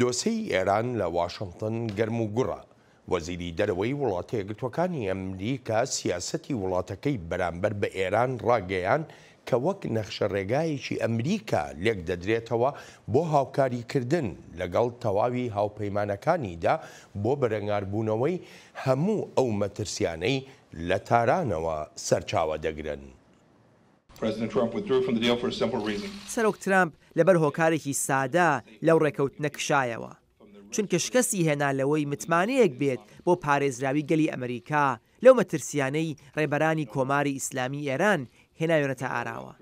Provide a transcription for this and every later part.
دۆسێی ئێران لە واشنتن گەرم و گوڕە، وەزیری دەرەوەی وڵاتە یەکگرتووەکانی ئەمریکا سیاسەتی وڵاتەکەی بەرامبەر بە ئێران ڕاگەیاند کە وەک نەخشە ڕێگایەکی ئەمریکا لێکدەدرێتەوە بۆ هاوکاریکردن لەگەڵ تەواوی هاوپەیمانەکانیدا بۆ بەرەنگاربوونەوەی هەموو ئەو مەترسیانەی لە تارانەوە سەرچاوە دەگرن. سەرۆک ترەمپ لەبەر هۆکارێکی سادە لەو ڕێکەوتنە کشایەوە، چونکە شکستی هێنا لەوەی متمانەیەک بێت بۆ پارێزراوی گەلی ئەمریکا لەو مەترسیانەی ڕێبەرانی کۆماری ئیسلامی ئێران هێناوێنەتە ئاراوە.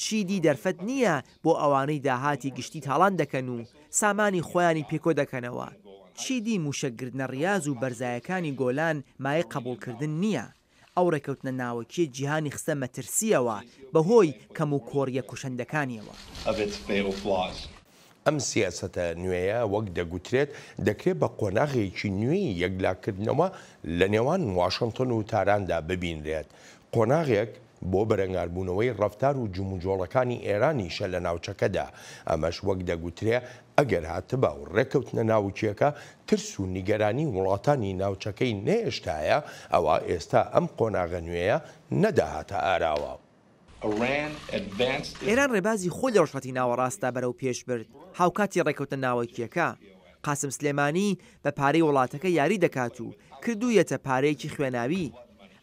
چیدی دەرفەت نییە بۆ ئەوانەی داهاتی گشتی تاڵان دەکەن و سامانی خۆیانی پێکۆ دەکەنەوە، چیدی مووشەک گرتنە ڕیاز و بەرزایەکانی گۆلان مایەی قەبووڵکردن نییە. ئەو ڕێکەوتنە ناوەکییە جیهانی خستە مەترسییەوە بەهۆی کەموکۆڕییە کوشەندەکانییەوە. ئەم سیاسەتە نوێیە وەک دەگوترێت دەکرێت بە قۆناغێکی نوێی یەکلاکردنەوە لە نێوان واشنتن و تاراندا ببینرێت، قۆناغێک بۆ بەرەنگاربوونەوەی ڕەفتار و جموجۆڵەکانی ئێرانیشە لە ناوچەکەدا، ئەمەش وەک دەگوترێ ئەگەر هاتبا و ڕێککەوتنە ناوکییەکە ترس و نیگەرانی وڵاتانی ناوچەکەی نەهێشتایە، ئەوا ئێستا ئەم قۆناغە نوێیە نەدەهاتە ئاراوە. ئێران ڕێبازی خۆی لە ڕۆژهەڵاتی ناوەڕاستدا بەرەو پێش برد، هاوکاتی ڕێککەوتنە ناوەکییەکە، قاسم سلێمانی بە پارەی وڵاتەکە یاری دەکات و کردوویەتە پارەیەکی خوێناوی.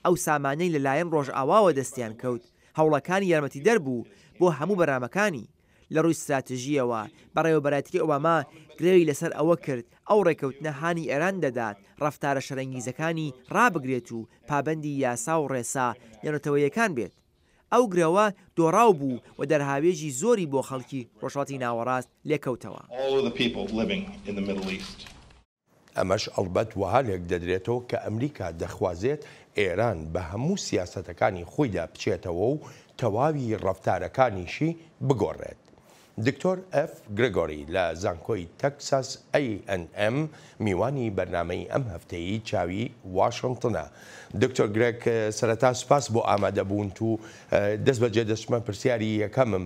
ئەو سامانەی لە لایەن ڕۆژئاواوە دەستیان کەوت، هەوڵەکانی یارمەتیدەر بوو بۆ هەموو بەرنامەکانی، لە ڕووی ستراتژییەوە، بەڕێوەبەرایەتیی ئۆباما گرێی لەسەر ئەوە کرد ئەو ڕێککەوتنە هانی ئێران دەدات ڕەفتارە شەرەنگیزەکانی ڕابگرێت و پابەندی یاسا و ڕێسا نێونەتەوەیەکان بێت. ئەو گرەوە دۆڕاو بوو و دەرهاوێژی زۆری بۆ خەڵکی ڕۆژهەڵاتی ناوەڕاست لێکەوتەوە. ئەمەش ئەڵبەت وەها لێکدەدرێتەوە کە ئەمریکا دەخوازێت ئێران بە هەموو سیاسەتەکانی خۆیدا بچێتەوە و تەواوی ڕەفتارەکانیشی بگۆڕێت. دکتۆر ئێف گرێگۆری لە زانکۆی تەکساس ئەیئەنئێم میوانی بەرنامەی ئەم هەفتەیی چاوی واشنتنە. دکتۆر گرێگ سەرەتا سوپاس بۆ ئامادەبوونت و دەستبەجێ دەچمە پرسیاری یەکەمم.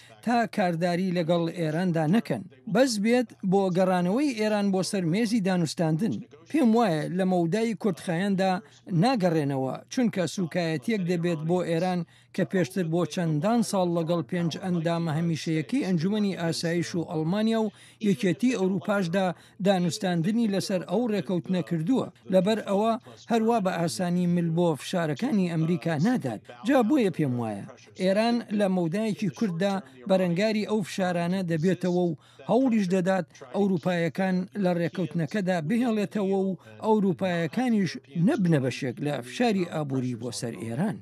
تا کارداری لەگەڵ ئێراندا نەکەن بەس بێت بۆ گەڕانەوەی ئێران بۆ سەر مێزی دانوستاندن پێم وایە لە مەودای کورتخایەندا ناگەڕێنەوە چونکە سوکایەتیەک دەبێت بۆ ئێران کە پێشتر بۆ چەندان ساڵ لەگەڵ پێنج ئەندامە هەمیشەیەکەی ئەنجومەنی ئاسایش و ئەڵمانیا و یەکێتی ئەوروپاشدا دانوستاندنی لەسەر ئەو ڕێکەوتنە کردووە لەبەر ئەوە هەروا بە ئاسانی مل بۆ فشارەکانی ئەمریکا نادات جا بۆیە پێم وایە ئێران لە مەودایەکی کورتدا بەرەنگاری ئەو فشارانە دەبێتەوە و هەوڵیش دەدات ئەوروپایەکان لە ڕێککەوتنەکەدا بهێڵێتەوە و ئەوروپایەکانیش نەبنە بەشێک لە فشاری ئابووری بۆ سەر ئێران.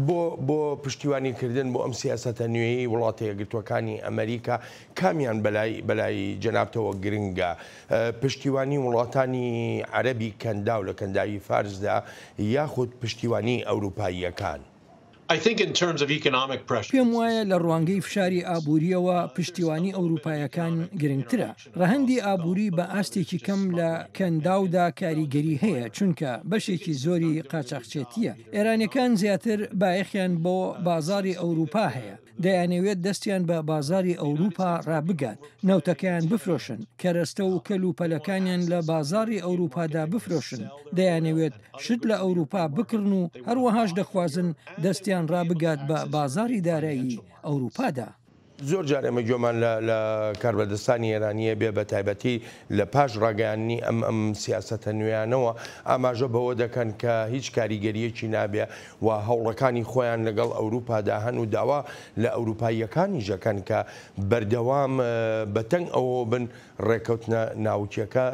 بۆ بۆ پشتیوانیکردن بۆ ئەم سیاسەتە نوێیەی وڵاتە یەکگرتووەکانی ئەمەریکا کامیان بەلای بەلای جەنابتەوە گرنگە؟ پشتیوانی وڵاتانی عەرەبی کەنداو لە کەنداوی فارسدا یاخود پشتیوانی ئەوروپاییەکان؟ پێم وایە لە ڕوانگەی فشاری ئابوورییەوە پشتیوانی ئەوروپایەکان گرنگترە. ڕەهەندی ئابووری بە ئاستێکی کەم لە کەنداودا کاریگەری هەیە چونکە بەشێکی زۆری قاچاخچێتییە. ئێرانییەکان زیاتر بایەخیان بۆ بازاڕی ئەوروپا هەیە. دەیانەوێت دەستیان بە بازاری ئەوروپا ڕابگات، نەوتەکەیان بفرۆشن، کەرەستە و کەل و پەلەکانیان لە بازاڕی ئەوروپادا بفرۆشن، دەیانەوێت شت لە ئەوروپا بکڕن و هەروەهاش دەخوازن دەستیان ڕابگات بە بازاری دارایی ئەوروپادا. زۆر جار ئێمە گوێمان لە کاربەدەستانی ئێرانی ئەبێ بە تایبەتی لە پاش ڕاگەیاندنی ئەم سیاسەتە نوێیانەوە ئاماژە بەوە دەکەن کە هیچ کاریگەرییەکی نابێ و هەوڵەکانی خۆیان لەگەڵ ئەوروپادا هەن و داوا لە ئەوروپاییەکانیش ئەکەن کە بەردەوام بە تەنگ ئەوەوە بن ڕێککەوتنە ناوکییەکە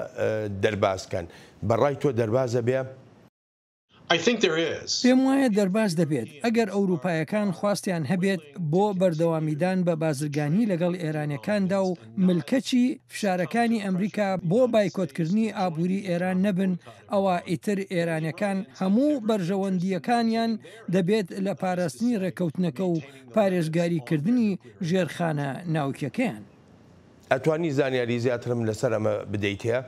دەرباز کەن. بە ڕای تۆ دەرباز ئەبێ؟ پێم وایە دەرباز دەبێت ئەگەر ئەوروپاییەکان خواستیان هەبێت بۆ بەردەوامیدان بە بازرگانی لەگەڵ ئێرانییەکاندا و ملکەچی فشارەکانی ئەمریکا بۆ بایکۆتکردنی ئابووری ئێران نەبن ئەوا ئیتر ئێرانیەکان هەموو بەرژەوەندییەکانیان دەبێت لە پاراستنی ڕێککەوتنەکە و پارێزگاری کردنی ژێرخانە ناوکیەکەیان. ئەتوانی زانیاری زیاترم لەسەر ئەمە بدەیتێ؟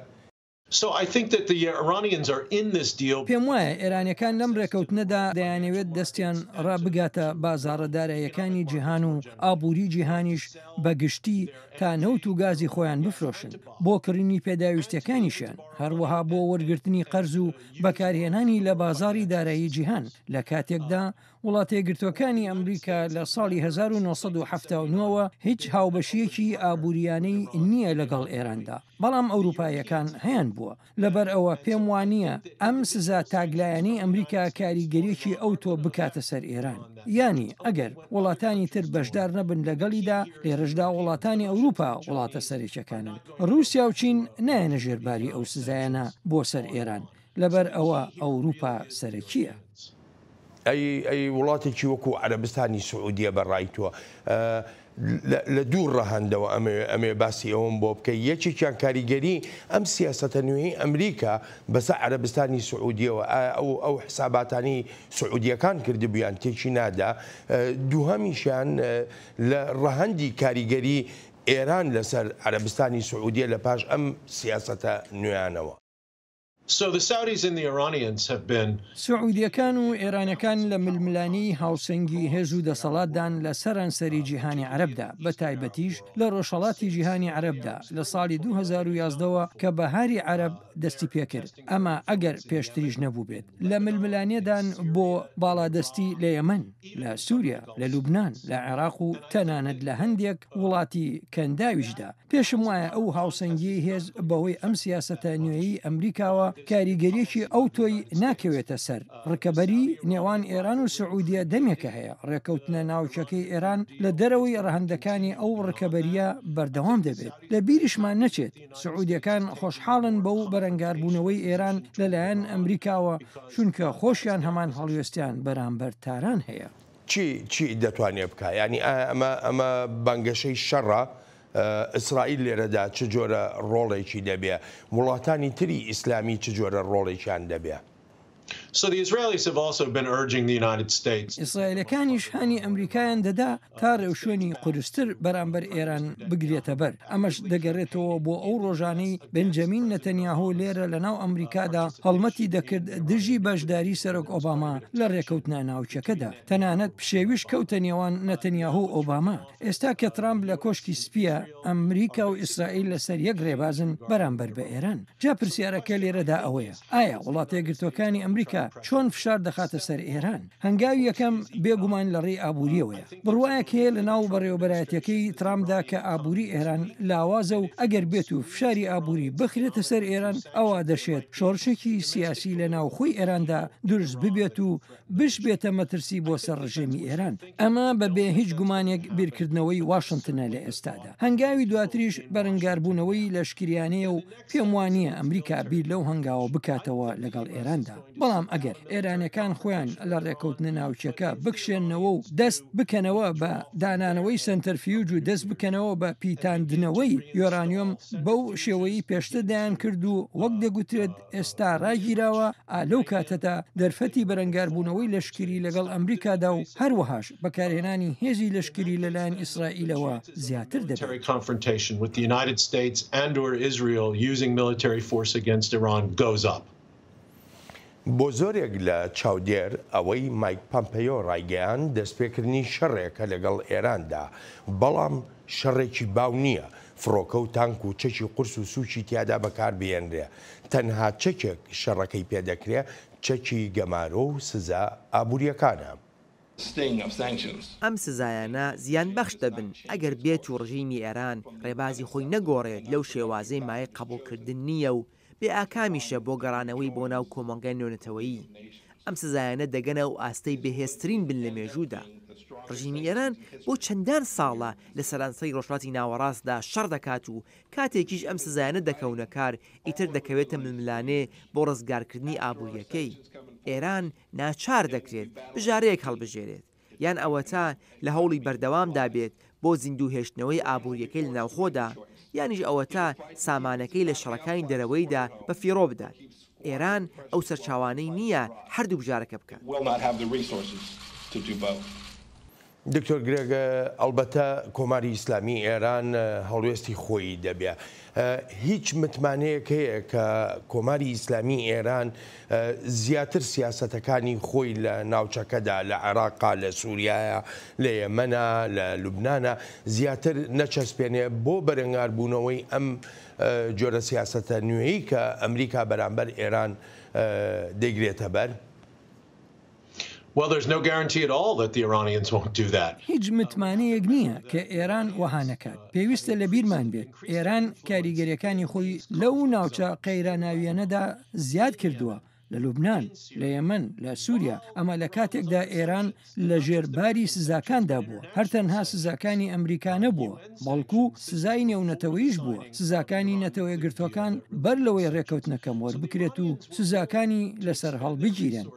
پێم وایە ئێرانیەکان لەم ڕێکەوتنەدا دەیانەوێت دەستیان ڕابگاتە بازاڕە داراییەکانی جیهان و ئابووری جیهانیش بە گشتی، تا نەوت و گازی خۆیان بفرۆشن بۆ کڕینی پێداویستیەکانیشیان، هەروەها بۆ وەرگرتنی قەرز و بەکارهێنانی لە بازاڕی دارایی جیهان، لە کاتێکدا وڵاتەیەکگرتووەکانی ئەمریکا لە ساڵی هەزار و نۆ سەد و حەفتا و نۆ وە هیچ هاوبەشییەکی ئابووریانەی نییە لەگەڵ ئێراندا، بەڵام ئەوروپاییەکان هەیانبووە. لەبەر ئەوە پێم وانییە ئەم سزا تاکلایەنەی ئەمریکا کاریگەریەکی ئەوتۆ بکاتە سەر ئێران یانی ئەگەر وڵاتانی تر بەشدار نەبن لەگەڵیدا لێرەشدا وڵاتانی ئەوروپا وڵاتە سەرێکەکانن رووسیا و چین نایەنە ژێرباری ئەو سزایەنە بۆ سەر ئێران لەبەر ئەوە ئەوروپا سەرەکیە. ئەی ئەی وڵاتێکی وەکو عەرەبستانی سعودیە بە ڕای تۆ لە دوو ڕەهەندەوە ئەمەوێ ئەمێ باسی ئەوم بۆ بکەی یەکێکیان کاریگەری ئەم سیاسەتە نوێی ئەمریکا بەسە عەرەبستانی سعودیەوە ئەو ئەو حساباتانی سعودیەکان کردبیان تێکی نادا دووهەمیشیان لە ڕەهەندی کاریگەری ئێران لەسەر عەرەبستانی سعودیە لە پاش ئەم سیاسەتە نوێیانەوە. سعودییەکان و ئێرانەکان لە ململانێی هاوسەنگی هێز و دەسەڵاتدان لە سەرانسەری جیهانی عەرەبدا، بەتایبەتیش لە ڕۆژهەڵاتی جیهانی عەرەبدا لە ساڵی دوو هەزار و یازدە وە کە بەهاری عەرەب دەستیپێکرد، ئەمە ئەگەر پێشتریش نەبووبێت لە ململانێدان بۆ باڵادەستی لە یەمەن، لە سوریا، لە لوبنان، لە عێراق و تەنانەت لە هەندێک وڵاتی کەنداویشدا. پێشم وایە ئەو هاوسەنگیەی هێز بەهۆی ئەم سیاسەتە نوێیەی ئەمریکاوە کاریگەریەکی ئەوتۆی ناکەوێتە سەر، ڕکەبەری نێوان ئێران و سعودیە دەمێکە هەیە، ڕێکەوتنە ناوکیەکەی ئێران لە دەرەوەی ڕەهەندەکانی ئەو ڕکەبەریە بەردەوام دەبێت، لە بیریشمان نەچێت سعودیەکان خۆشحاڵن بەو بەرەنگاربوونەوەی ئێران لەلایەن ئەمریکاوە، چونکە خۆشیان هەمان هەڵوێستیان بەرامبەر تاران هەیە. چی چی دەتوانێ بکا یانی ئایا ئەمە ئەمە بانگەشەی شەڕە ئیسرائیل لێرەدا چ جۆرە ڕۆڵێکی دەبێ وڵاتانی تری ئیسلامی چ جۆرە ڕۆڵێکیان دەبێ. ئیسرائیلەکانیش هانی ئەمریکایان دەدا تا ڕێوشوێنی قورستر بەرامبەر ئێران بگرێتەبەر. ئەمەش دەگەرێتەوە بۆ ئەو ڕۆژانەی بنجەمین نەتەنیاهۆ لێرە لە ناو ئەمریکادا هەڵمەتی دەکرد دژی بەشداری سەرۆک ئۆباما لە ڕێکەوتنە ناوکیەکەدا تەنانەت پشێویش کەوتە نێوان نەتەنیاهۆ و ئۆباما ئێستا کە ترامپ لە کۆشکی سپیە ئەمریکا و ئیسرائیل لەسەر یەک ڕێبازن بەرامبەر بە ئێران جا پرسیارەکە لێرەدا ئەوەیە ئایا وڵاتە یەکگرتوەکانی ئەمریکا چۆن فشار دەخاتە سەر ئێران هەنگاوی یەکەم بێ گومان لە ڕێی ئابووریەوەیە. بڕوایەک هەیە لە ناو بەڕێوەبەرایەتیەکەی ترامپدا کە ئابووری ئێران لاوازە و ئەگەر بێت و فشاری ئابووری بخرێتە سەر ئێران ئەوا دەشێت شۆڕشێکی سیاسی لە ناوخۆی ئێراندا دروست ببێت و بشبێتە مەترسی بۆ سەر ڕژێمی ئێران. ئەمە بە بێ هیچ گومانێک بیرکردنەوەی واشنتنە لە ئێستادا. هەنگاوی دواتریش بەرەنگاربوونەوەی لەشکریانەیە و پێم وانییە ئەمریکا بیر لەو هەنگاوە بکاتەوە لەگەڵ ئێراندا، بەڵام ئەگەر ئێرانیەکان خۆیان لە ڕێکەوتنە ناوکیەکە بکشێنەوە و دەست بکەنەوە بە دانانەوەی سەنتەرفیوج و دەست بکەنەوە بە پیتاندنەوەی یۆرانیۆم بەو شێوەیی پێشتر دەیانکرد و وەک دەگوترێت ئێستا ڕاگیراوە، ئا لەو کاتەدا دەرفەتی بەرەنگاربوونەوەی لەشکری لەگەڵ ئەمریکادا و هەروەهاش. بەکارهێنانی هێزی لەشکری لەلایەن ئیسرائیلەوە زیاتر دەبێت. بۆ زۆرێک لە چاودێر ئەوەی مایک پەمپەیۆ ڕایگەیاند دەستپێکردنی شەڕێکە لەگەڵ ئێراندا، بەڵام شەڕێکی باو نییە فڕۆکە و تانک و چەکی قورس و سووکی تیادا بەکاربهێنرێ، تەنها چەکێک شەڕەکەی پێدەکرێ چەکی گەمارۆ و سزا ئابوورییەکانە. Staying of sanctions. ئەم سزایانە زیانبەخش دەبن ئەگەر بێت و ڕژیمی ئێران ڕێبازی خۆی نەگۆڕێت لەو شێوازەی مایەی قەبوڵکردن نییە و بێ ئاکامیشە بۆ گەڕانەوەی بۆ ناو کۆمەڵگای نێونەتەوەیی. ئەم سزایانە دەگەنە ئەو ئاستەی بەهێزترین بن لە مێژوودا. ڕژیمی ئێران بۆ چەندان ساڵە لە سەرانسەری ڕۆژهەڵاتی ناوەڕاستدا شەڕ دەکات و کاتێکیش ئەم سزایانە دەکەونە کار ئیتر دەکەوێتە ململانێ بۆ ڕزگارکردنی ئابوورییەکەی. ئێران ناچار دەکرێت بژارەیەک هەڵبژێرێت، یان ئەوەتا لە هەوڵی بەردەوامدا بێت بۆ زیندووهێشتنەوەی ئابوورییەکەی لە ناوخۆدا، یانیش ئەوەتا سامانەکەی لە شەڕەکانی دەرەوەیدا بە فیڕۆ بدات. ئێران ئەو سەرچاوانەی نییە هەردوو بژارەکە بکات. دکتۆر گرێگ، ئەڵبەتە کۆماری ئیسلامی ئێران هەڵوێستی خۆی دەبێ. هیچ متمانەیەک هەیە کە کۆماری ئیسلامی ئێران زیاتر سیاسەتەکانی خۆی لە ناوچەکەدا لە عێراقا، لە سوریایە، لە یەمەنە، لە لوبنانە زیاتر نەچەسپێنێ بۆ بەرەنگاربوونەوەی ئەم جۆرە سیاسەتە نوێی کە ئەمریکا بەرامبەر ئێران دەیگرێتە بەر؟ هیچ متمانەیەک نییە کە ئێران وەها نەکات. پێویستە لە بیرمان بێت ئێران کاریگەرییەکانی خۆی لەو ناوچە قەیراناوییەنەدا زیاد کردووە، لە لوبنان، لە یەمەن، لە سووریا، ئەمە لە کاتێکدا ئێران لە ژێر باری سزاکاندا بووە. هەر تەنها سزاکانی ئەمریکا نەبووە، بەڵکوو سزای نێونەتەوەیش بووە. سزاکانی نەتەوەیەکگرتووەکان بەر لەوەی ڕێککەوتنەکەم وەربکرێت و سزاکانی لەسەر هەڵبگیرێن،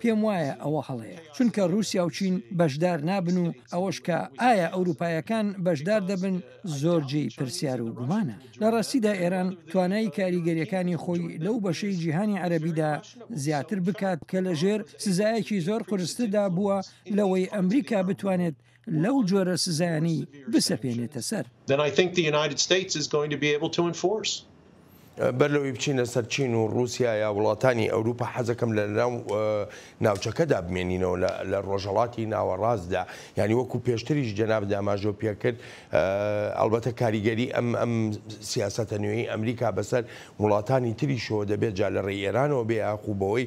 پێم وایە ئەوە هەڵەیە چونکە روسیا و چین بەشدار نابن و ئەوەش کە ئایا ئەوروپایەکان بەشدار دەبن زۆر جێی پرسیار و گومانە لە راستیدا ئێران توانای کاریگەریەکانی خۆی لەو بەشەی جیهانی عەرەبیدا زیاتر بکات کە لە ژێر سزایەکی زۆر قورستردا بووە لەوەی ئەمریکا بتوانێت لەو جۆرە سزایانەی بسەپێنێتە سەر. بەر لەوەی بچینە سەر چین و ڕووسیا یا وڵاتانی ئەوروپا حەزەکەم لە ناو ناوچەکەدا بمێنینەوە لە ڕۆژهڵاتی ناوەڕاستدا ینی وەکو پێشتریش جەناب داماژۆ پێکرد ئەلبەتە کاریگەری ئەم ئەم سیاستە نوێی ئەمریکا بەسەر وڵاتانی تریشەوە دەبێت جا لە ڕێ ئێرانەوە بێ یاخوبەوەی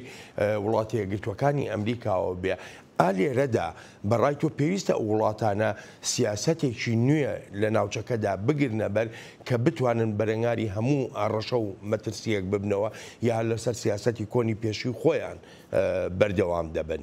وڵاتە یەکگرتوەکانی ئەمریکاوە بێ ئا لێرەدا بە ڕای تۆ پێویستە ئەو وڵاتانە سیاسەتێکی نوێ لە ناوچەکەدا بگرنە بەر کە بتوانن بەرەنگاری هەموو هەڕەشە و مەترسییەک ببنەوە یا هەر لەسەر سیاسەتی کۆنی پێشووی خۆیان بەردەوام دەبن؟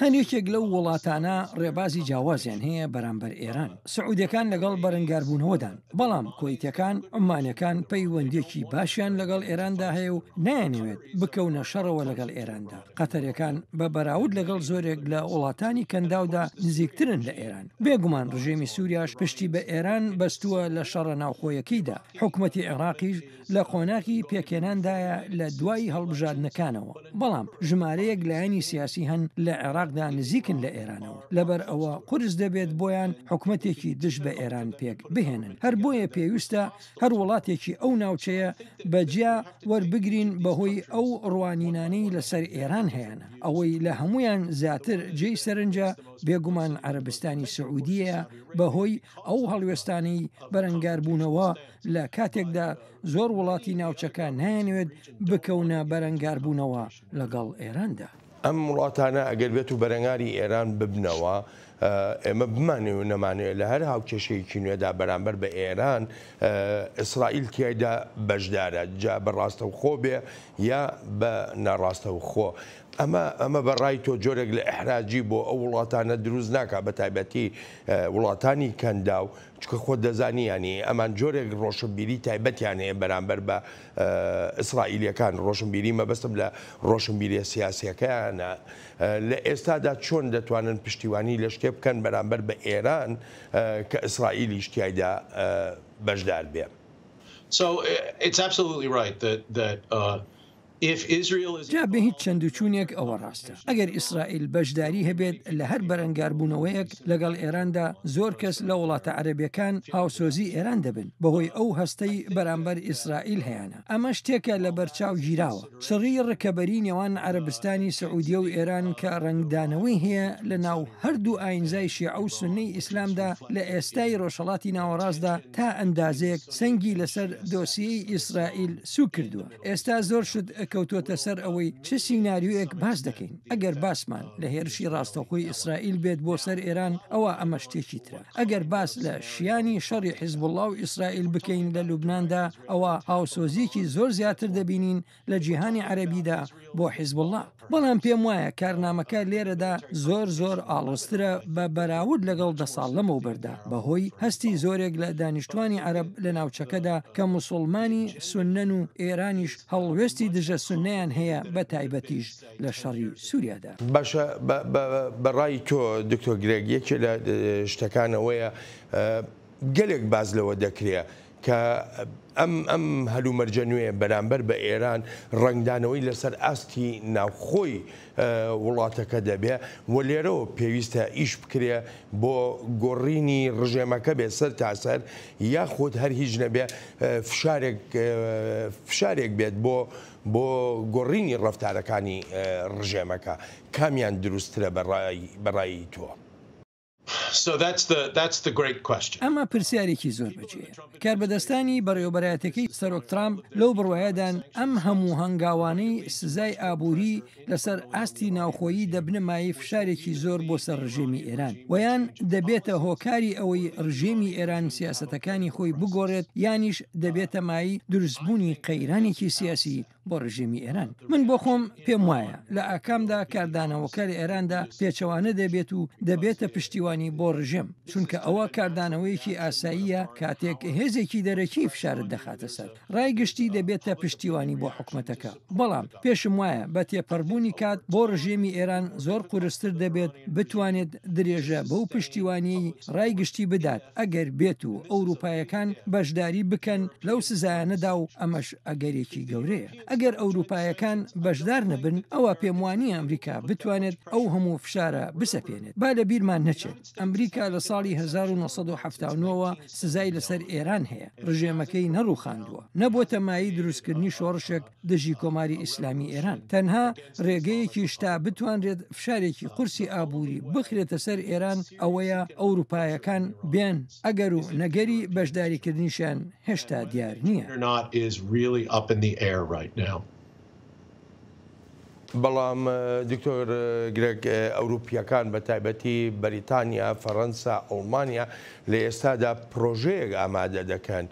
هەر یەکێک لەو وڵاتانە ڕێبازی جیاوازیان هەیە بەرامبەر ئێران. سعوودییەکان لەگەڵ بەرەنگاربوونەوەدان. بەڵام کوەیتەکان عومانەکان پەیوەندیەکی باشیان لەگەڵ ئێراندا هەیە و نایانەوێت بکەونە شەڕەوە لەگەڵ ئێراندا قەتەرەکان بە بەراود لەگەڵ زۆرێک لە وڵاتانی کەنداودا نزیکترن لە ئێران بێگومان ڕژێمی سوریاش پشتی بە ئێران بەستووە لە شەڕە ناوخۆیەکەیدا حکومەتی عێراقیش لە قۆناغی پێکهێناندایە لە دوای هەڵبژاردنەکانەوە، بەڵام ژمارەیەک لایەنی سیاسی هەن لە عێراقدا نزیکن لە ئێرانەوە، لەبەر ئەوە قورس دەبێت بۆیان حکومەتێکی دژ بە ئێران پێک بهێنن، هەر بۆیە پێویستە هەر وڵاتێکی ئەو ناوچەیە بە جیا وەربگرین بەهۆی ئەو ڕوانینانەی لەسەر ئێران هەیانە، ئەوەی لە هەموویان زیاتر جێی سەرنجە بێگومان عەرەبستانی سعودیەیە بەهۆی ئەو هەڵوێستانەی بەرەنگاربوونەوە، لە کاتێکدا زۆر وڵاتی ناوچەکە نایەنوێت بکەونە بەرەنگاربوونەوە لەگەڵ ئێراندا. ئەم وڵاتانە ئەگەر بێت و بەرەنگاری ئێران ببنەوە، ئێمە بمانەوێ و نەمانەوێ لە هەر هاوکێشەیەکی نوێدا بەرامبەر بە ئێران، ئیسرائیل تیایدا بەشدارە، جا بە ڕاستەوخۆ بێ یا بە ناڕاستەوخۆ. ئەمە ئەمە بە ڕای تۆ جۆرێک لە ئیحراجی بۆ ئەو وڵاتانە دروست ناکات، بە تایبەتی وڵاتانی کەنداو چونکە خۆت دەزانی یانی ئەمان جۆرێک ڕۆشنبیری تایبەتیان هەیە بەرامبەر بە ئیسرائیلیەکان ڕۆشنبیری مەبەستم لە ڕۆشنبیریە سیاسیەکەیانە لە ئێستادا چۆن دەتوانن پشتیوانی لە شتێ بکەن بەرامبەر بە ئێران کە ئیسرائیلیش تیایدا بەشدار بێ. جا بێ هیچ چەند و چوونێک ئەوە ڕاستە ئەگەر ئیسرائیل بەشداری هەبێت لە هەر بەرەنگاربوونەوەیەک لەگەڵ ئێراندا زۆر کەس لە وڵاتە عەرەبییەکان هاوسۆزی ئێران دەبن بەهۆی ئەو هەستەی بەرامبەر ئیسرائیل هەیانە ئەمە شتێکە لە بەرچاو گیراوە چڕی ڕکەبەری نێوان عەرەبستانی سعودیە و ئێران کە ڕەنگدانەوەی هەیە لە ناو هەردوو ئاینزای شێعە و سوننەی ئیسلامدا لە ئێستای ڕۆژهەڵاتی ناوەڕاستدا تا ئەندازەیەک سەنگی لەسەر دۆسیەی ئیسرائیل سووک کردووە. ئێستا زۆر شت کەوتووەتە سەر ئەوەی چ سیناریۆیەک باس دەکەین، ئەگەر باسمان لە هێرشی ڕاستەوخۆی ئیسرائیل بێت بۆ سەر ئێران ئەوا ئەمە شتێکی ترە، ئەگەر باس لە شیانی شەڕی حیزبوڵڵا و ئیسرائیل بکەین لە لوبناندا ئەوا هاوسۆزییەکی زۆر زیاتر دەبینین لە جیهانی عەرەبیدا بۆ حیزبوڵڵا. بەڵام پێم وایە کارنامەکە لێرەدا زۆر زۆر ئاڵۆزترە بە بەراورد لەگەڵ دە ساڵ لەمەوبەردا بەهۆی هەستی زۆرێک لە دانیشتوانی عەرەب لە ناوچەکەدا کە موسوڵمانی سوننەن و ئێرانیش هەڵوێستی دژە سوننەیان هەیە بە تایبەتیش لە شەڕی سوریادا. باشە بە ڕای تۆ دکتۆر گرێگ یەکێ لە شتەکان ئەوەیە گەلێک باس لەوە دەکرێ کە ئەم ئەم هەلومەرجە نوێیە بەرامبەر بە ئێران ڕەنگدانەوەی لەسەر ئاستی ناوخۆی وڵاتەکە دەبێ و لێرەوە پێویستە ئیش بکرێ بۆ گۆڕینی ڕژێمەکە بێ سەر تاسەر یاخود هەر هیچ نەبێ فشارێک فشارێک بێت بۆ بۆ گۆڕینی ڕفتارەکانی ڕژێمەکە کامیان دروسترە بەڕای بەڕایی تۆ؟ ئەمە پرسیارێکی زۆر بەجێیە. کاربەدەستانی بەڕێوەبەرایەتەکەی سەرۆک ترامپ لەو بڕوایەدان ئەم هەموو هەنگاوانەی سزای ئابووری لەسەر ئاستی ناوخۆیی دەبنە مایەی فشارێکی زۆر بۆ سەر ڕژێمی ئێران و یان دەبێتە هۆکاری ئەوەی ڕژێمی ئێران سیاسەتەکانی خۆی بگۆڕێت یانیش دەبێتە مای دروستبوونی قەیرانێکی سیاسی بۆ ڕژێمی ئێران من بۆ خۆم پێم وایە لە ئاکامدا کاردانەوەکە لە ئێراندا پێچەوانە دەبێت و دەبێتە پشتیوانی بۆ ڕژێم چونکە ئەوە کاردانەوەیەکی ئاساییە کاتێک هێزێکی دەرەکی فشارت دەخاتە سەر ڕای گشتی دەبێتە پشتیوانی بۆ حکوومەتەکە بەڵام پێشم وایە بە تێپەڕبوونی کات بۆ ڕژێمی ئێران زۆر قورستر دەبێت بتوانێت درێژە بەو پشتیوانی ڕای گشتی بدات ئەگەر بێت و ئەوروپایەکان بەشداری بکەن لەو سزایانەدا و ئەمەش ئەگەرێکی گەورەیە ئەگەر ئەوروپایەکان بەشدار نەبن ئەوە پێم وانییە ئەمریکا بتوانێت ئەو هەموو فشارە بسەپێنێت با لە بیرمان نەچێت ئەمریکا لە ساڵی 1970ەوە سزای لەسەر ئێران هەیە ڕژێمەکەی نەڕوخاندووە نەبووتە مای دروستکردنی شۆڕشێک دژی کۆماری ئیسلامی ئێران تەنها ڕێگەیەکی شتا بتوانرێت فشارێکی قورسی ئابووری بخرێتە سەر ئێران ئەوەیە ئەوروپایەکان بێن ئەگەر و نەگەری بەشداریکردنیشیان هێشتا دیار نییە. بەڵام دکتۆر گرێگ، ئەوروپییەکان بە تایبەتی بەریتانیا، فەرەنسا، ئەڵمانیا لە ئێستادا پرۆژەیەک ئامادە دەکەن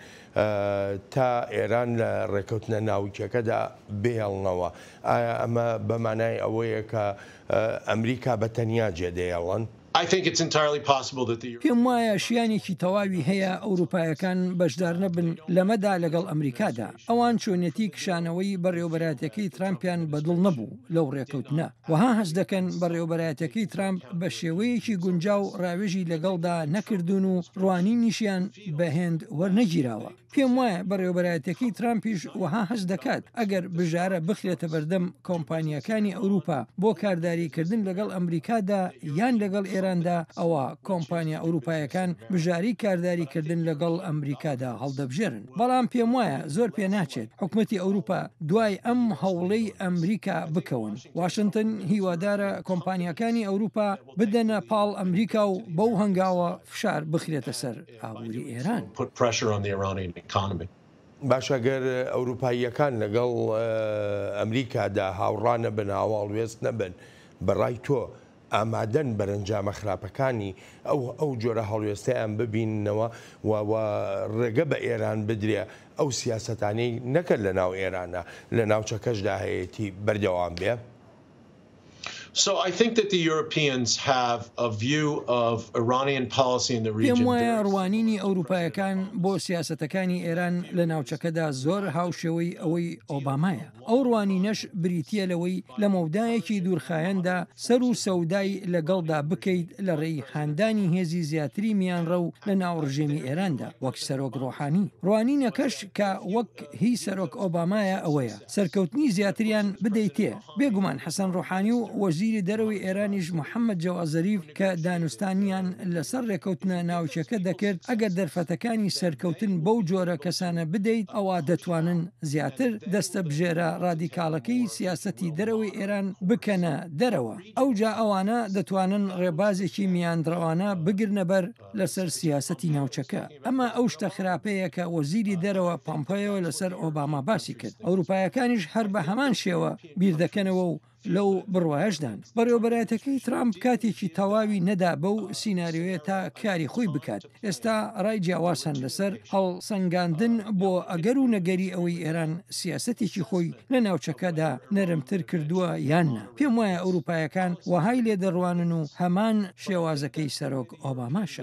تا ئێران لە ڕێککەوتنە ناوکییەکەدا بهێڵنەوە. ئایا ئەمە بە مانای ئەوەیە کە ئەمریکا بە تەنیا جێدەهێڵن؟ پێم وایە شیانێکی تەواوی هەیە ئەوروپایەکان بەشدارنەبن لەمەدا لەگەڵ ئەمریکادا ئەوان چۆنیەتی کشانەوەی بەڕێوبەراتەکەی ترامپیان بەدڵ نەبوو لەو ڕێکەوتنە وەها هەست دەکەن بەڕێوبەرایەتەکەی ترامپ بە شێوەیەکی گونجاو ڕاوێژی لەگەڵدا نەکردوون و ڕوانینیشیان بەهێند وەرنەگیراوە پێم وایە بەڕێوەبەرایەتیەکەی ترامپیش وەها هەست دەکات ئەگەر بژارە بخرێتە بەردەم کۆمپانیاکانی ئەوروپا بۆ کارداریکردن لەگەڵ ئەمریکادا یان لەگەڵ ئێراندا ئەوە کۆمپانیا ئەوروپایەکان بژاری کارداریکردن لەگەڵ ئەمریکادا هەڵدەبژێرن بەڵام پێم وایە زۆر پێ ناچێت حکومەتی ئەوروپا دوای ئەم هەوڵەی ئەمریکا بکەون واشنتن هیوادارە کۆمپانیاکانی ئەوروپا بدەنە پاڵ ئەمریکا و بەو هەنگاوە فشار بخرێتە سەر ئابووری ئێران. باشە گەر ئەوروپاییەکان لەگەڵ ئەمریکادا هاوڕا نەبن هاواڵوێست نەبن بەڕای تۆ ئامادەن بەرەنجامە خراپەکانی ئەو ئەو جۆرە هەڵوێستیان ببیننەوە و ڕێگە بە ئێران بدرێ ئەو سیاستانی نەکرد لە ناو ئێرانە لە ناوچەکەشدا هەیەی بەردەوام بێ؟ پێم وایە ڕوانینی ئەوروپایەکان بۆ سیاسەتەکانی ئێران لە ناوچەکەدا زۆر هاوشێوەی ئەوەی ئۆبامایە ئەو ڕوانینەش بریتە لەوەی لە مەودایەکی دوورخایەندا سەر و سەودای لەگەڵدا بکەیت لە ڕێی هاندانی هێزی زیاتری میانڕە و لە ناو ڕژێمی ئێراندا وەک سەرۆک ڕۆحانی ڕوانینەکەش کە وەک هی سەرۆک ئۆبامایە ئەوەیە سەرکەوتنی زیاتریان بدەیتێ. بێگومان حەسەن ڕۆحانی و وەزیری دەرەوەی ئێرانیش محەممەد جەواد زەریف کە دانوستانیان لەسەر ڕێکەوتنە ناوکییەکە دەکرد، ئەگەر دەرفەتەکانی سەرکەوتن بەو جۆرە کەسانە بدەیت، ئەوا دەتوانن زیاتر دەستەبژێرە ڕادیکاڵەکەی سیاسەتی دەرەوەی ئێران بکەنە دەرەوە. ئەوجا ئەوانە دەتوانن ڕێبازێکی میاندڕەوانە بگرنە بەر. لەسەر سیاسەتی ناوچەکە. ئەمە ئەو شتە خراپەیە کە وەزیری دەرەوە پۆمپەیۆ لەسەر ئۆباما باسی کرد. ئەوروپایەکانیش هەر بە هەمان شێوە بیر دەکەنەوە و لەو بڕوایەشدان. بەڕێوەبەرایەتەکەی ترامپ کاتێکی تەواوی نەدا بەو سیناریۆیە تا کاری خۆی بکات. ئێستا رای جیاواز هەن لەسەر هەڵسەنگاندن بۆ ئەگەر و نەگەری ئەوەی ئێران سیاسەتێکی خۆی لە ناوچەکەدا نەرمتر کردووە یان نا. پێموایە ئەوروپایەکان وەهای لێدەڕوانن و هەمان. شێوازەکەی سەرۆک ئۆباماشە.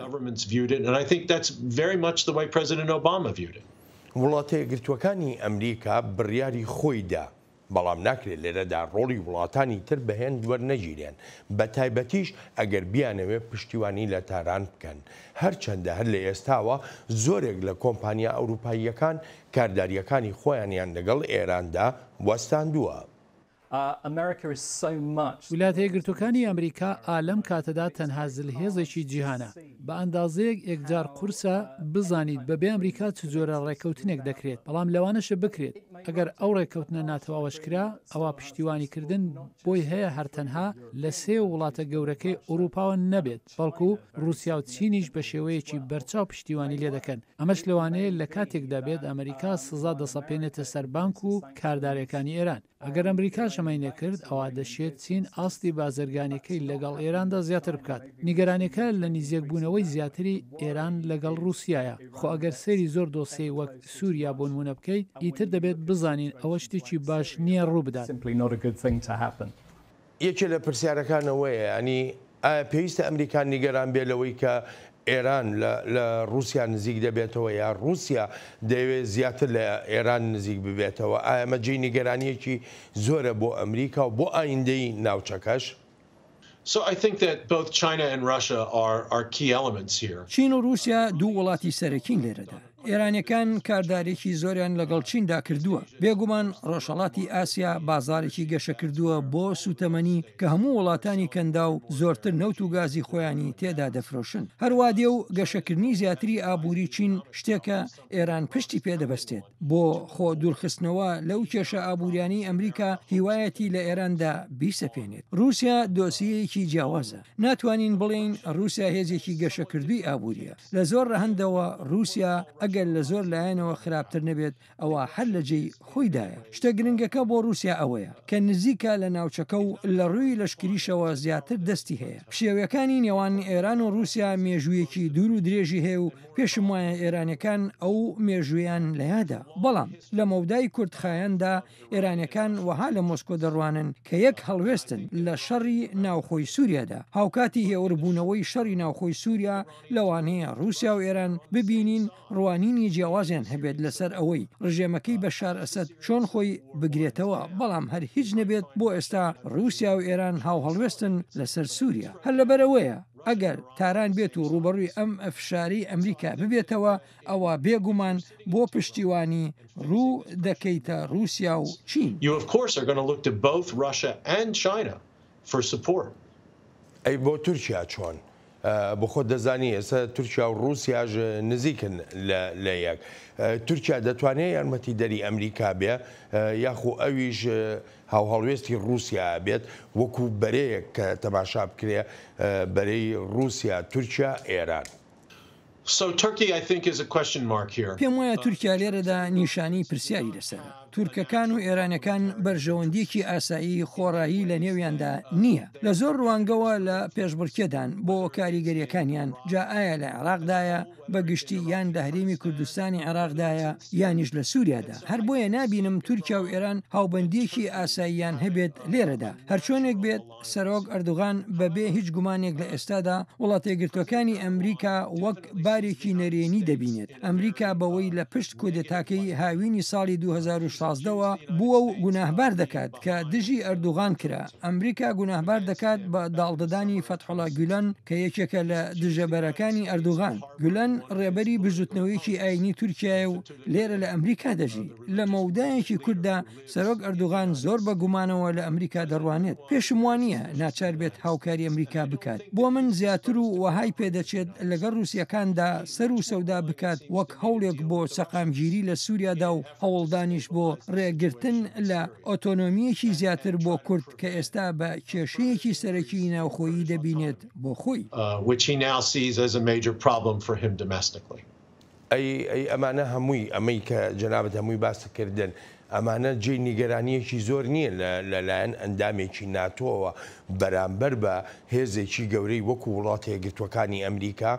وڵاتەیەکگرتووەکانی ئەمریکا بڕیاری خۆی دا، بەڵام ناکرێت لێرەدا ڕۆڵی وڵاتانی تر بە هێند وەرنەگیرێن، بە تایبەتیش ئەگەر بیانەوێت پشتیوانی لە تاران بکەن، هەرچەندە هەر لە ئێستاوە زۆرێک لە کۆمپانیا ئەوروپاییەکان کاردارییەکانی خۆیانیان لەگەڵ ئێراندا وەستاندووە. ویلاتە یەکگرتووەکانی ئەمریکا ئا لەم کاتەدا تەنها زلهێزێکی جیهانە. بە ئەندازەیەک ئێکجار قورسە بزانیت بەبێ ئەمریکا چ جۆرە ڕێککەوتنێک دەکرێت، بەڵام لەوانەشە بکرێت. ئەگەر ئەو ڕێککەوتنە ناتەواوەش کرا، ئەوا پشتیوانیکردن بۆی هەیە هەر تەنها لە سێ وڵاتە گەورەکەی ئوڕووپاوە نەبێت. بەڵکو ڕووسیا و چینیش بە شێوەیەکی بەرچاو پشتیوانی لێ دەکەن، ئەمەش لەوانەیە لە کاتێکدا بێت ئەمریکا سزا دەسەپێنێتە سەر بانک و کاردارێکانی ئێران. ئەگەر ئەمریکاش ئەمەی نەکرد، ئەوا دەشێت چین ئاستی بازرگانیەکەی لەگەڵ ئێراندا زیاتر بکات. نیگەرانیەکە لە نیزیەکبوونەوەی زیاتری ئێران لەگەڵ ڕووسیایە. خۆ ئەگەر سەیری زۆر دۆسیەی وەک سووریا بۆ نموونە بکەیت، ئیتر دەبێت بزانین ئەوە شتێکی باش نییە ڕوو بدات. یەکێ لە پرسیارەکان ئەوەیە یانی ئایا پێویستە ئەمریکا نیگەران بێ لەوەی کە ئێران لە ڕووسیا نزیک دەبێتەوە یا ڕووسیا دەیەوێ زیاتر لە ئێران نزیک ببێتەوە، ئایا ئەمە جێی نیگەرانییەکی زۆرە بۆ ئەمریکا و بۆ ئایندەی ناوچەکەش؟ چین و ڕووسیا دوو وڵاتی سەرەکین لێرەدا. ئێرانیەکان کاردارێکی زۆریان لەگەڵ چیندا کردووە بێگومان ڕۆژهڵاتی ئاسیا بازارێکی گەشەکردووە بۆ سوتەمەنی کە هەموو وڵاتانی کەندا و زۆرتر نەوت و گازی خۆیانی تێدا دەفرۆشن هەروادێ و گەشەکردنی زیاتری ئابووری چین شتێکە ئێران پشتی پێدەبستێت بۆ خۆ دوورخستنەوە لەو کێشە ئابووریانی ئەمریکا هیوایەتی لە ئێراندا بیسەپێنێت رووسیا دۆسیەیەکی جیاوازە ناتوانین بڵێین ڕووسیا هێزێکی گەشەکردووی ئابوورییە، لە زۆر ڕەهەندەوە ڕووسیا ئەگەر لە زۆر لایەنەوە خراپتر نەبێت ئەوا هەر لە جێی خۆیدایە، شتە گرنگەکە بۆ ڕووسیا ئەوەیە کە نزیکە لە ناوچەکە و لە ڕووی لەشکریشەوە زیاتر دەستی هەیە، پشێویەکانی نێوان ئێران و ڕووسیا مێژوویەکی دوور و درێژی هەیە و پێشموایە ئێرانیەکان ئەو مێژوویەیان لە یادە، بەڵام لە مەودای کورتخایەندا ئێرانیەکان وەها لە مۆسکۆ دەڕوانن کە یەک هەڵوێستن لە شەڕی ناوخۆی سوریادا، هاوکاتی هێوربوونەوەی شەڕی ناوخۆی سوریا لەوانەیە روسیا و ئێران ببینین روانینی جیاوازیان هەبێت لەسەر ئەوەی رژێمەکەی بەشار ئەسەد چۆن خۆی بگرێتەوە بەڵام هەر هیچ نەبێت بۆ ئێستا روسیا و ئێران هاوهەڵوێستن لەسەر سوریا هەر لەبەرئەوەیە ئەگەر تاران بێت و رووبەڕووی ئەم فشارەی ئەمریکا ببێتەوە ئەوە بێ گومان بۆ پشتیوانی روو دەکەیتە روسیا و چین. ئەی بۆ تورکیا چۆن؟ بۆ خۆت دەزانی ئێستا تورکیا و روسیاش نزیکن لە یەک. تورکیا دەتوانێ یارمەتی دەری ئەمریکا بێ یاخو ئەویش هاوهەڵوێستی روسیا بێت وەکو بەرەیەک کە تەماشا بکرێ بەرەی روسیا تورکیا ئێران. پێم وایە تورکیا لێرەدا نیشانەی پرسیاری لەسەرە. تورکەکان و ئێرانەکان بەرژەوەندییەکی ئاسایی خۆڕایی لە نێویاندا نییە. لە زۆر ڕوانگەوە لە پێشبڕکێدان بۆ کاریگەرییەکانیان، جا ئایا لە عێراقدایە بە گشتی یان لە هەرێمی کوردستانی عێراقدایە یانیش لە سووریادا. هەر بۆیە نابینم تورکیا و ئێران هاوبەندییەکی ئاساییان هەبێت لێرەدا. هەرچۆنێک بێت، سەرۆک ئەردوغان بە بێ هیچ گومانێک لە ئێستادا وڵاتەیەکگرتووەکانی ئەمریکا وەک بارێکی نەرێنی دەبینێت. ئەمریکا بەوەی لە پشت کودێتاکەی هاوینی ساڵی دوو هەزار و شازدە وە بووە و گوناهبار دەکات کە دژی ئەردوغان کرا. ئەمریکا گوناهبار دەکات بە داڵدەدانی فەتحوڵا گولەن کە یەکێکە لە دژە بەرەکانی ئەردوغان. گولەن ڕێبەری بزوتنەوەیەکی ئاینی تورکیایە و لێرە لە ئەمریکا دەژی. لە مەودایەکی کورتدا سەرۆک ئەردوغان زۆر بە گومانەوە لە ئەمریکا دەڕوانێت، پێشم وانیە ناچار بێت هاوکاری ئەمریکا بکات بۆ من زیاتر و وەهای پێدەچێت لەگەڵ روسیەکاندا سەر و سەودا بکات وەک هەوڵێک بۆ سەقامگیری لە سوریادا و هەوڵدانیش بۆ رێگرتن لە ئۆتۆنۆمیەکی زیاتر بۆ کورد کە ئێستا بە کێشەیەکی سەرەکی ناوخۆیی دەبینێت بۆ خۆی. ئەی ئەی ئەمانە هەمووی ئەمەی کە جەنابت هەمووی باست کردن ئەمانە جێی نیگەرانیەکی زۆر نیە لە لە لایەن ئەندامێکی ناتۆوە بەرامبەر بە هێزێکی گەورەی وەکو وڵاتە یەکگرتوەکانی ئەمریکا.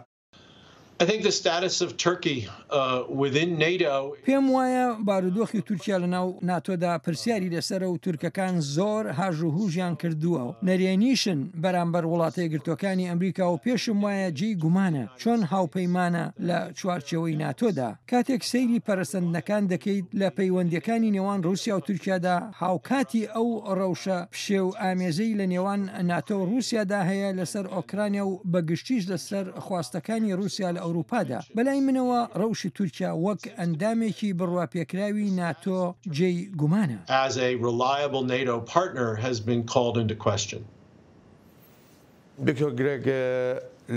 پێم وایە بارودۆخی تورکیا لە ناو ناتۆدا پرسیاری لەسەرە و تورکەکان زۆر هاژ و هوژیان کردوە و نەرێنیشن بەرامبەر وڵاتە یەکگرتوەکانی ئەمریکا و پێشم وایە جێی گومانە چۆن هاوپەیمانە لە چوارچێوەی ناتۆدا؟ کاتێک سەیری پەرەسەندنەکان دەکەیت لە پەیوەندییەکانی نێوان ڕووسیا و تورکیادا، هاوکاتی ئەو ڕەوشە پشێوئامێزەی لە نێوان ناتۆ و ڕووسیادا هەیە لەسەر ئۆکرانیا و بە گشتیش لەسەر خواستەکانی ڕووسیا لە ئەوروپادا، بەلای منەوە ڕەوشی تورکیا وەک ئەندامێکی بڕواپێکراوی ناتۆ جێی گومانە. دکتۆر گرێگ،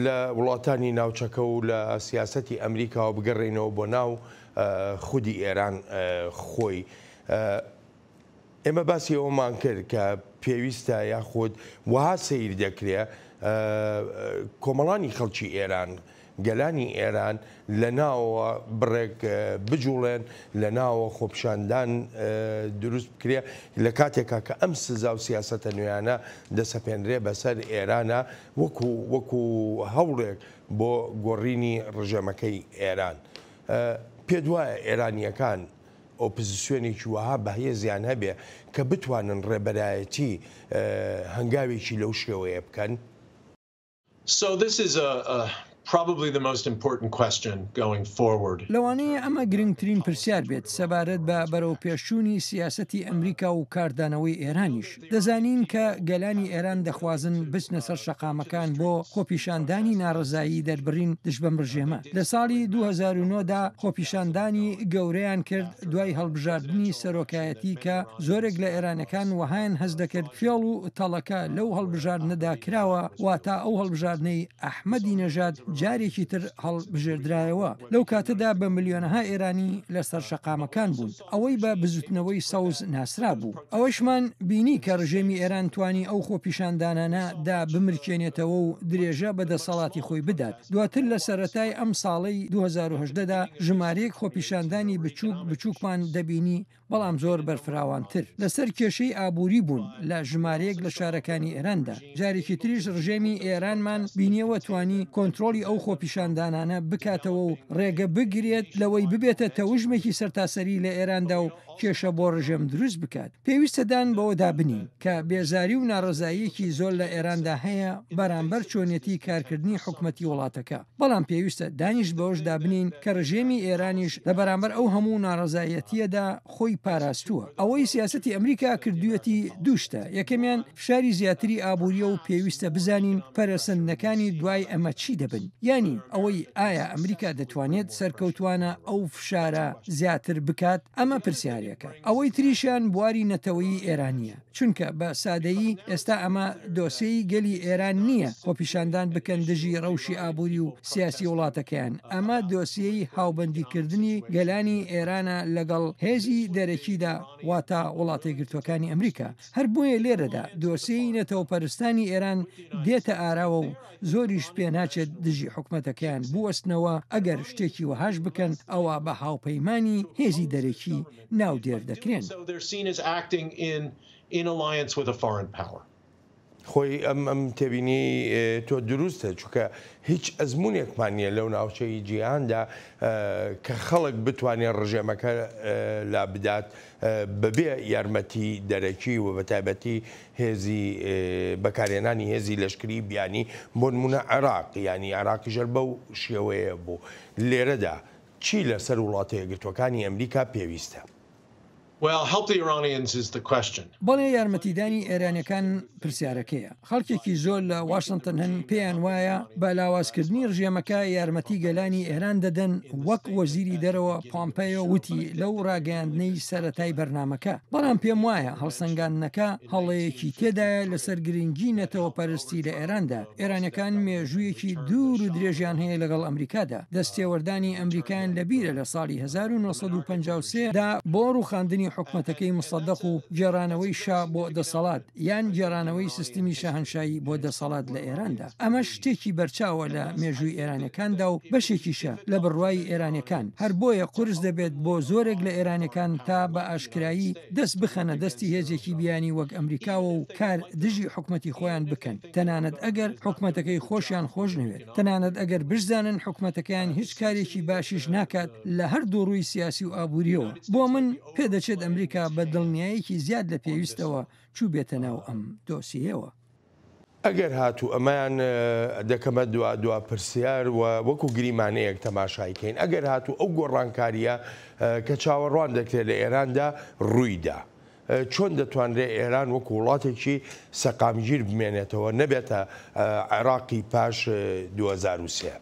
لە وڵاتانی ناوچەکە و لە سیاسەتی ئەمریکاوە بگەڕێینەوە بۆ ناو خودی ئێران خۆی، ئێمە باسی ئەوەمان کرد کە پێویستە یاخود وەها سەیر دەکرێ کۆمەڵانی خەڵکی ئێران گەلانی ئێران لە ناوەوە بڕێک بجوڵێن، لە ناوەوە خۆپیشاندان دروست بکرێ، لە کاتێکا کە ئەم سزا و سیاسەتە نوێیانە دەسەپێنرێ بە سەر ئێرانا وەکوو وەکوو هەوڵێک بۆ گۆڕینی ڕژێمەکەی ئێران. پێت وایە ئێرانییەکان ئۆپزسیۆنێکی وەها بەهێزیان هەبێ کە بتوانن ڕێبەرایەتی هەنگاوێکی لەو شێوەیە بکەن؟ لەوانەیە ئەمە گرنگترین پرسیار بێت سەبارەت بە بەرەوپێشچوونی سیاسەتی ئەمریکا و کاردانەوەی ئێرانیش. دەزانین کە گەلانی ئێران دەخوازن بچنە سەر شەقامەکان بۆ خۆپیشاندانی ناڕەزایی دەربڕین دژ بەم ڕژێمە. لە ساڵی دوو هەزار و نۆ دا خۆپیشاندانی گەورەیان کرد، دوای هەڵبژاردنی سەرۆکایەتی کە زۆرێک لە ئێرانیەکان وەهایان هەست دەکرد فێڵ و تەڵەکە لەو هەڵبژاردنەدا کراوە، واتە ئەو هەڵبژاردنەی ئەحمەدی نەژاد جارێکی تر هەڵبژێردرایەوە، لەو کاتەدا بە ملیۆنەها ئێرانی لەسەر شەقامەکان بوون، ئەوەی بە بزوتنەوەی سەوز ناسرابوو. ئەوەشمان بینی کە ڕژێمی ئێران توانی ئەو خۆپیشاندانانە دا بمرکێنێتەوە و درێژە بە دەسەڵاتی خۆی بدات دواتر لە سەرەتای ئەم ساڵەی 2018 دا ژمارەیەک خۆپیشاندانی بچووک بچووکمان دەبینی بەڵام زۆر بەرفراوانتر لەسەر کێشەی ئابووری بوون لە ژمارەیەک لە شارەکانی ئێران دا جارێکی تریش ڕژێمی ئێرانمان بینیەوە توانی کۆنترۆڵی ئەو خۆپیشاندانانە بکاتەوە و ڕێگە بگرێت لەوەی ببێتە تەوژمێکی سەرتاسەری لە ئێران دا و کێشە بۆ ڕژێم دروست بکات، پێویستە دان بەوەدا بنین کە بێزاری و ناڕەزاییەکی زۆر لە ئێراندا هەیە بەرامبەر چۆنیەتی کارکردنی حکومەتی وڵاتەکە، بەڵام پێویستە دانیش بەوەشدا بنین کە ڕژێمی ئێرانیش لە بەرامبەر ئەو هەموو ناڕەزایەتییەدا خۆی پاراستووە. ئەوەی سیاسەتی ئەمریکا کردوویەتی دوو شتە، یەکەمیان. فشاری زیاتری ئابووریە و پێویستە بزانین پەرەسەندنەکانی دوای ئەمە چی دەبن یانی ئەوەی ئایا ئەمریکا دەتوانێت سەرکەوتوانە ئەو فشارە زیاتر بکات ئەمە پرسیارێکە ئەوەی تریشیان بواری نەتەوەیی ئێرانیە چونکە بە سادەیی ئێستا ئەمە دۆسێی گەلی ئێران نییە خۆپیشاندان بکەن دژی ڕەوشی ئابووری و سیاسی وڵاتەکەیان ئەمە دۆسیەی هاوبەندیکردنی گەلانی ئێرانە لەگەڵ هێزی دەرەکیدا واتا وڵاتە یەکگرتوەکانی ئەمریکا هەر بۆیە لێرەدا دۆسێی نەتەوەپەرستانی ئێران دێتە ئاراوە و زۆریش پێناچێت دژی حکومەتەکەیان بوەستنەوە ئەگەر شتێکی وەهاش بکەن ئەوا بە هاوپەیمانانی هێزی دەرەکی ناودێر دەکرێن. خۆی ئەم ئەم تێبینی تۆ دروستە چونکە هیچ ئەزمونێکمان نییە لەو ناوچەی جیهاندا کە خەڵک بتوانێت ڕژێمەکە لابدات بەبێ یارمەتی دەرەکی و بەتایبەتی هێزی بەکارهێنانی هێزی لەشکری بیانی بۆنمونە عێراق یانی عێراقی ژەر بەو شێوەیە بوو لێرەدا چی لەسەر وڵاتە یەکگرتوەکانی ئەمریکا پێویستە؟ بەڵێ یارمەتیدانی ئێرانیەکان پرسیارەکەیە خەڵکێکی زۆر لە واشنتن هەن پێیان وایە بە لاوازکردنی ڕژێمەکە یارمەتی گەلانی ئێران دەدەن وەک وەزیری دەرەوە پۆمپەیۆ وتی لەو ڕاگەیاندنەی سەرەتای بەرنمەکە بەڵام پێم وایە هەڵسەنگاندنەکە هەڵەیەکی تێدایە لەسەر گرنگی نەتەوە پەرستی لە ئێراندا ئێرانیەکان مێژوویەکی دوور و درێژیان هەیە لەگەڵ ئەمریکادا، دەستێوەردانی ئەمریکایان لە بیرە لە ساڵی هەزار و نۆ سەد و پەنجا و سێ دا بۆ ڕووخاندنی حکومەتەکەی موسەدەق و گێڕانەوەی شا بۆ دەسەڵات یان گێڕانەوەی سیستمی شاهەنشایی بۆ دەسەڵات لە ئێراندا ئەمەش شتێکی بەرچاوە لە مێژووی ئێرانیەکاندا و بەشێکیشە لە بڕوای ئێرانیەکان هەر بۆیە قورس دەبێت بۆ زۆرێک لە ئێرانیەکان تا بە ئاشکرایی دەست بخەنە دەستی هێزێکی بیانی وەک ئەمریکاوە و کار دژی حکومەتی خۆیان بکەن. تەنانەت ئەگەر حکومەتەکەی خۆشیان خۆشنەوێت، تەنانەت ئەگەر بشزانن حکومەتەکەیان هیچ کارێکی باشیش ناکات لە هەردوو ڕووی سیاسی و ئابوورییەوە. بۆ من پێدەچێت ئەمریکا بە دڵنیایەکی زیاد لە پێویستەوە چووبێتە ناو ئەم دۆسیەیەوە. ئەگەر هاتوو ئەمەیان، دەکەمە دوا دوا پرسیار و وەکو گریمانەیەک تەماشای کەین، ئەگەر هاتوو ئەو گۆڕانکارییە کە چاوەڕوان دەکرێت لە ئێراندا ڕوویدا، چۆن دەتوانرێت ئێران وەکو وڵاتێکی سەقامگیر بمێنێتەوە نەبێتە عێراقی پاش دوو هەزار و سێ؟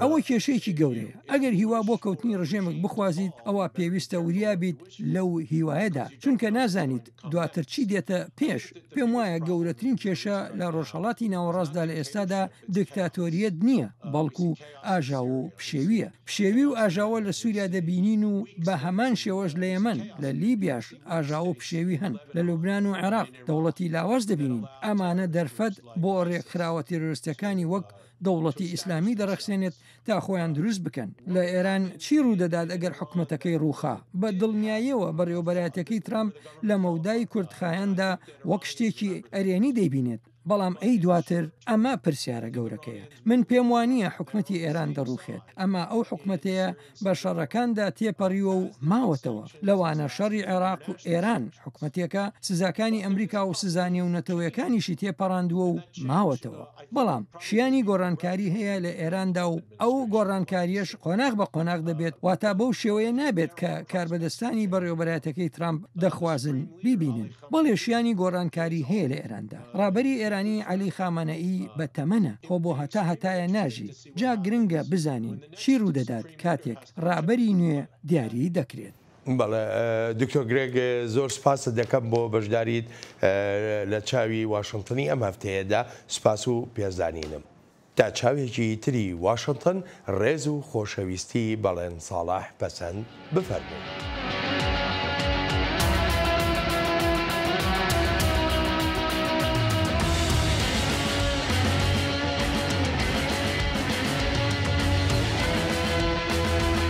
ئەوە کێشەیەکی گەورەیە. ئەگەر هیوا بۆ کەوتنی ڕژێمێک بخوازیت، ئەوا پێویستە وریا بیت لەو هیوایەدا، چونکە نازانیت دواتر چی دێتە پێش؟ پێم وایە گەورەترین کێشە لە ڕۆژهەڵاتی ناوەڕاستدا لە ئێستادا دکتاتۆریەت نییە، بەڵکو ئاژاوە و پشێویە. پشێوی و ئاژاوە لە سووریا دەبینین و بە هەمان شێوەش لە یەمەن، لە لیبیاش ئاژاوە و پشێوی هەن، لە لوبنان و عێراق دەوڵەتی لاواز دەبینین. ئەمانە دەرفەت بۆ ڕێکخراوە تیرۆرستییەکانی وەک دەوڵەتی ئیسلامی دەڕەخسێنێت تا خۆیان دروست بکەن. لە ئێران چی ڕوودەدات ئەگەر حکومەتەکەی ڕووخا؟ بە دڵنیاییەوە بەڕێوەبەرایەتیەکەی ترامپ لە مەودای کورتخایەندا وەک شتێکی ئەرێنی دەیبینێت، بەڵام ئەی دواتر؟ ئەمە پرسیارە گەورەکەیە. من پێم وانییە حکومەتی ئێران دەڕووخێت. ئەمە ئەو حکومەتەیە بە شەڕەکاندا تێپەڕیوە و ماوەتەوە. لەوانە شەڕی عێراق و ئێران، حکومەتێکە سزاکانی ئەمریکا و سزا نێونەتەوەیەکانیشی تێپەڕاندووە و ماوەتەوە. بەڵام شیانی گۆڕانکاری هەیە لە ئێراندا و ئەو گۆڕانکارییەش قۆناغ بە قۆناغ دەبێت، واتا بەو شێوەیە نابێت کە کاربەدەستانی بەڕێوەبەرایەتەکەی ترامپ دەخوازن بیبینن. بەڵێ شیانی گۆڕانکاری هەیە لە ئێراندا. ڕابەری ئێرانی عەلی خامەنەئی بە تەمەنە، خۆ بۆ هەتا هەتایە ناژی، جا گرنگە بزانین چی ڕوودەدات کاتێک ڕابەری نوێ دیاری دەکرێت. بەڵێ دکتۆر گرێگ زۆر سپاست دەکەم بۆ بەشداریت لە چاوی واشنتنی ئەم هەفتەیەدا سپاس و پێزانینم. تا چاوێکی تری واشنتن ڕێز و خۆشەویستی بەڵێن ساڵح پەسەند بفەرموو.